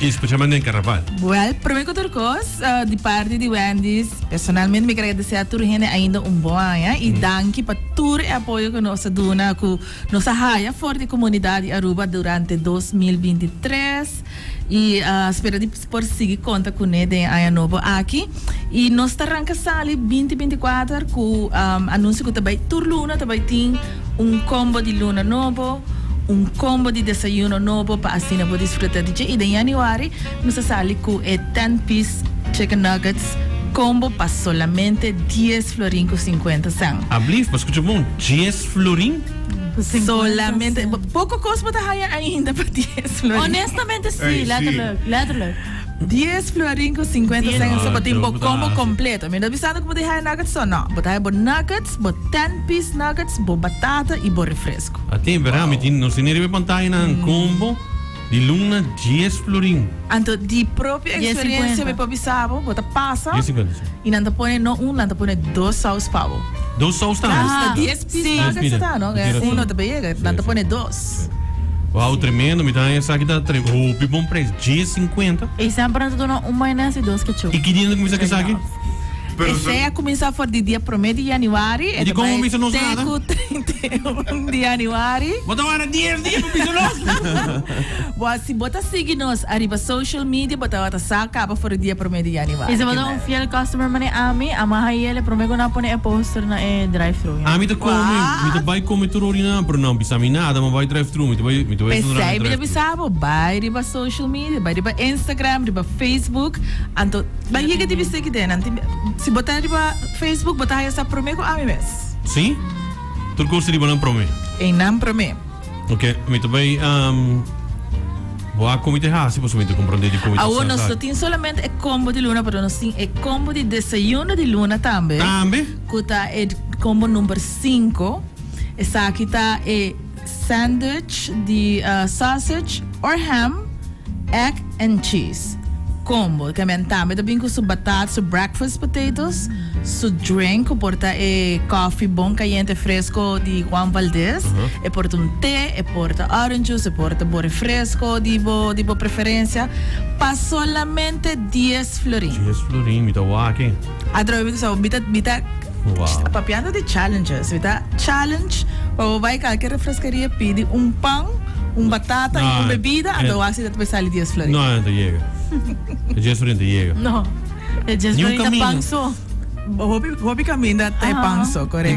Y specialmente den Carnaval. Well, prome cu tur cos, di parti di Wendy's, personalmente mi quier agradece a tur hende ainda un bon aña y danki pa tur e apoyo cu nos a duna cu nos a haya for di comunidad di Aruba durante dos mil binti tres y spera di por sigui conta cune den e aña nobo aki. Y nos ta ranca sali binti binti kuater cu anuncio cu ta bay tur luna ta bay tin. Un combo di luna nobo, un combo di desayuno nobo pa asina bo disfruta di dje. I den Januari nos a sali cu e ten piece chicken nuggets combo pa solamente dies florin cu cincuenta cent. Ablief, pa scucha bon, dies florin? Solamente, poco cos bo ta haya ainda pa dies florin. Honestamente si, letterlijk, letterlijk. Dies florin ku sinkuenta sent en Sopotin bo kombo kompleto. Mi ta bisando ku bo ta haya nuggets so? No, bo ta haya bo nuggets, bo ten piece nuggets, bo batata i bo refresku. At'é, bera? Mi tin nos tene riba e pantaya nan kombo di luna dies florin. Anto di propio eksperensia mi por bisa bo, bo ta pasa i nan ta pone no un, nan ta pone dos sous pa bo. Dos sous tambe? Sí. Nan pide. Uno ta beyega, nan ta pone dos. Wow, tremendo, mi ta haña esaki ta tre hopi bon prijs, djes sinkuenta. E semper nan ta duna un mayones i dos ketchup. I ki dia nan ta kuminsá ku esaki? Esei a kuminsá for di dia promé di yanüari, e ta bai te ku treinta i un di yanüari. Bo ta wara dies dia pa bisa nos. Bo a si bo ta sigui nos ariba social media, bo tabata sa kaba for di dia promé di yanüari. Fiel customer mane ami a maha i el e prome ku nan pone e poster na e drive thru ya. Ami ta komi, mi ta bai komi tur orinan pero nan bisa mi nada ma bai drive thru mi ta bai mi ta bai entro na e drive thru. P'esei mi ta bisa bo bai riba social media bai riba Instagram riba Facebook anto nan yega di bisa ekede nan tin si bo ta riba Facebook bo ta haya sa prome ku ami mes. Si tur kos riba nan prome. Ei nan prome. Ok, mi ta bay Bo a komi ta hasi pasobra mi ta comprende di komi ta hasi. Awor nos no tin solamente e combo di luna pero nos tin e combo di desayuno di luna tambe. Tambe. Cu ta e combo number cinco. Esaki ta e sandwich di sausage or ham, egg. and cheese combo. Camen tambe ta bin cu su batat, su breakfast potatoes, su drink cu por ta e coffee bon cayente fresco di Juan Valdez. E por ta un te, e por ta orange juice, e por ta bo refresco di bo di bo preferencia pa solamente dies florin. Dies florin mi ta wak e. A trawe mi so mi mi ta papiando di challenges mi ta challenge pa bo bai kalke refreskeria pidi un pan un batata i un bebida anda bo hasi dat bo sali dies florin no anta yega e dies florin ta yega no e dies florin ta pan so hopi hopi kaminda ta e pan so korekto.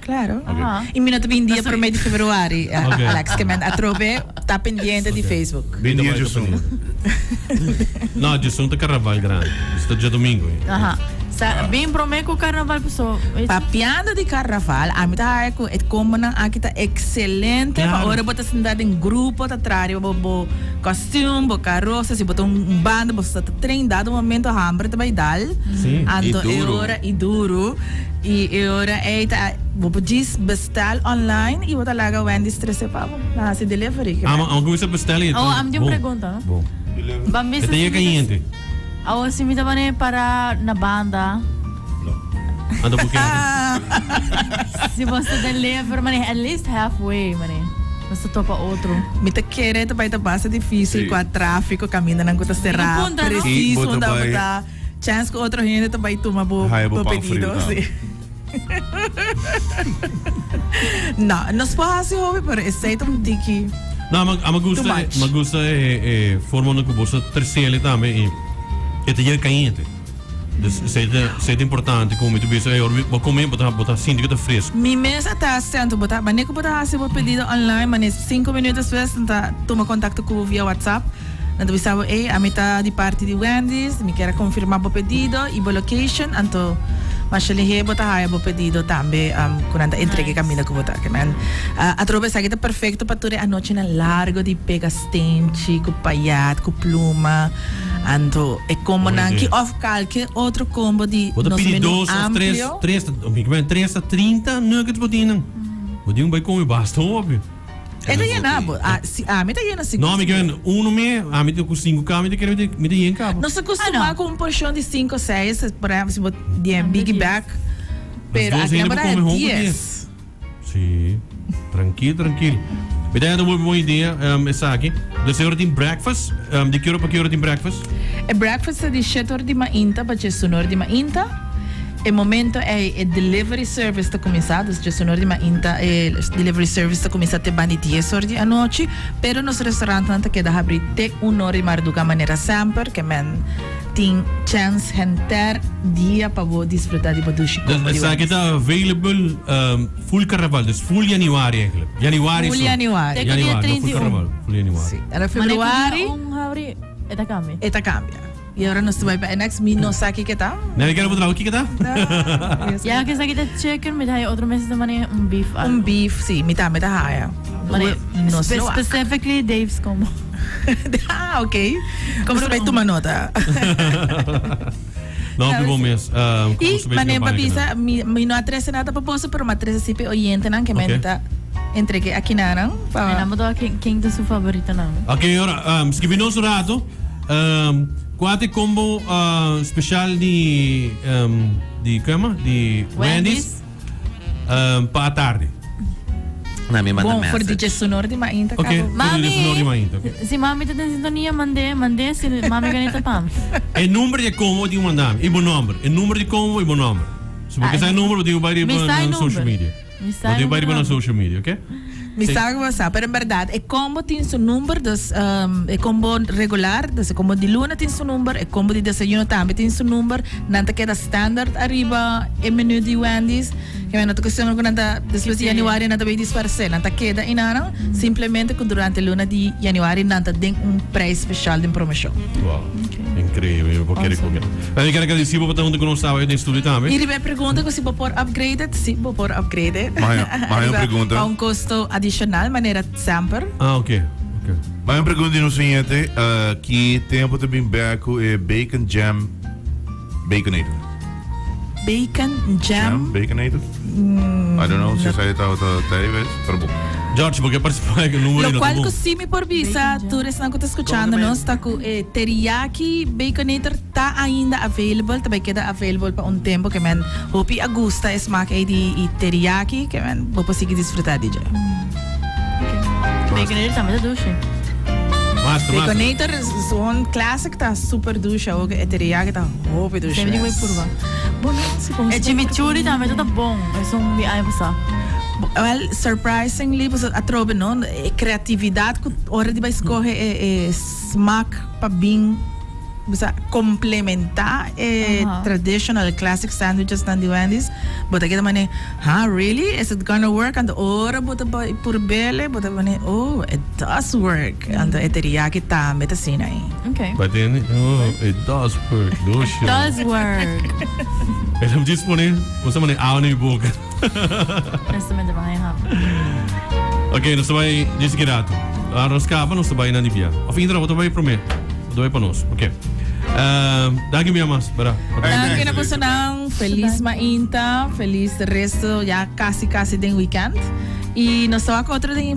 Claro. Y mi no ta bin dia prome di februari, Alex, ke men atrobe ta pendiente di Facebook. Bin dia Djosun. No, Djosun ta carnaval grandi. Pues ta djodomingo ey. Sa, bin prome cu carnaval paso. Papiando di carnaval, ami ta hae cu e combonan aki ta excelente pa ora bo ta sinta den grupo ta traha riba bo, bo costume, bo carroza. Si bo ta un banda, bo sa ta train. Dado momento hamber ta bay dal. Anto e ora, y duro. I e ora ei ta bo por djis bestel online i bo ta laga Wendy's trese pa bo. Nan hasi delivery. Ke mester. Amo a cuminsa bestel i. Awo ami tin un pregunta no. Bo. Delivery. E ta yega yente. Awo si mi ta mane para na banda. No. Anto bo keda den. Si bo ta deliver mane at least half way mane. Nos ta topa otro. Mi ta kere ta bai ta basta dificil cu a trafico camindanan cu ta cera preciso unda bo ta. Chance cu otro hende ta bay tuma bo pedido. No, nos por haci hopi, pero esey ta un tiki too much. No, ama gusta, ama gusta e forma unda cu boso trece ele tambe y e ta yega cayente. Dus esey ta, esey ta importante cu mi ta bisa ey, ora bo come bo ta, bo ta sinti cu ta fresco. Mi mes a ta cento, bo ta, manera cu bo ta haci bo pedido online, manera cinco minuut despues nan ta tuma contacto cu bo via WhatsApp. Nan ta bisa bo, Ey, ami ta di parti di Wendy's, mi kier a confirma bo pedido y bo location, anto Mashalihe bo ta haya bo pedido tambe cu nan ta entrega e caminda cu bo ta aki. Man, atrobe esaki ta perfecto pa tur e anochinan largo di pega steenchi cu payat cu pluma, anto e combonan ki of calke otro combo di nos menu amplio. Bo ta pidi dos of tres, tres ta trinta nuggets bo tin nan. Bo di un bay come basta hopi. E ta yen na bo. Ah, si ami ta yen na cinco. No, mi ken uno mi, ami ta cu cinco cama, mi ta kere mi ta yen cabo. Nos a costuma cu un porcion di cinco, seis, por ehemplo si bo bien biggie bek, pero aki nan bo ta haña dies. Si, trankil, trankil. Mi ta haña bon idea esaki. Desha ora tin breakfast, di ki ora pa ki ora tin breakfast? E breakfast ta di shet ora di mainta pa cesun ora di mainta. E momento ei e delivery service ta kuminsá, dus djes honor di mainta e delivery service ta kuminsá te banda di dies hor di anochi, pero nos restaurantnan ta keda habrí te un hor di marduga manera semper, ke men tin chèns henter dia pa bo disfrutá di bo dushi kombo di wènes. Esaki ta available full karnaval, dus full yaniwari eiglèk, yaniwari su, yaniwari no full karnaval, full yaniwari. Mane ku dia un habrí e ta kambia? E ta kambia. Y ahora nos ta bai pa annex. Mi no sa kiko ta. Nadie quiere mostrabo kiko ta. Ya akesaki ta chicken, mi ta haya otro mes ta mane un beef algo. Un beef si, mi tambe ta haya. Mane specifically Dave's combo. Ah ok. Nos ta bai tuma nota. No mi bon mes. Y mane pa bisa, mi no a trese nada ta propósito, pero mi a trese si pe oyentenan ke mi ta entregue aki nanan. Nan bo ta hoor ken ta su favoritonan. Ok, ora, skibi nos un rato. Ehm, Cuate combo ah, special di, ehm, di, ¿cómo se llama? Di Wendy's, ehm, pa a tarde. Na mi manda Bon, for DJ message. Sonor di Mainta, Ok, cabo. por DJ Sonor di Mainta, ok. Si mami ta den sintonia, mandé, mandé. Si mami ka neta pam. E number di combo tin mandami, i bo number. E number di combo i bo number. So bo ke sa e number, bo tin bai riba Mi sa e na social number. media. Mi sa riba riba nos social media ok. Mi sa cu bo sa pero en berdad e combo tin su number dus e combo regular dus e combo di luna tin su number e combo di desayuno tambe tin su number nan ta keda standard ariba e menu di Wendy's kimen no ta cuestion cu nan ta despues di Januario nan ta bay disparse nan ta keda enanan simplemente cu durante luna di Januario nan ta den un prijs special den promocion. Increíble, bo kere ku kere. Pero mi kere agradeci bo pa ta hunto ku nos sabado den estudio tambe. Y riba e pregunta ku si bo por upgrade, sí bo por upgrade. Mas hay un, mas hay un pregunta. Riba pa un costo adicional manera semper. Ah, ok, ok. Mas hay un pregunta di nos oyente, ki tempo ta bin bek ku e bacon jam baconator? Bacon jam. Jam baconator. I don't know si sa e tawata Davis, pero bon. George, bo ke partisipá den e numero i no ta bon. Lokual ku si mi por bisa tur esnan ku ta skuchando nos ta ku e teriyaki baconator ta ainda available, ta bai keda available pa un tempu ke men hopi a gusta e smak ei di e teriyaki ke men bo por sigui disfrutá di dje. Baconator tambe ta dushi. Master, master. Baconator zo'n classic ta super dushi awor ke e teriyaki ta hopi dushi mes. Debí di bai purba. Bo no. E chimichurri tambe ta ta bon. Esun di ai pasá. Well, surprisingly pasobra atrobe no, e creatividad cu ora di bai scoge e smaak pa bin bisa complementa e traditional classic sandwiches nan di Wendy's, bo ta keda mane, Huh? Really? Is it gonna work? Anto ora bo ta bai purbele bo ta mane, Oh, it does work. Anto e teriyaki tambe ta asina ai. Oké. Bo ta keda mane, Oh, it does work. Doos, It does work. E ta djis pone un sa mane ao na mi boca. Honestamente pa haña happen. Ok, nos ta bai djis di kirato. Ora nos kaba nos ta bai nan di bia. Of inter abo ta bai prome. Bo ta bai pa nos. Ok. Danki mia mas, bra. Danki na personan. Felis mainta. Felis resto ya casi casi den weekend. Y nos ta wak otro den.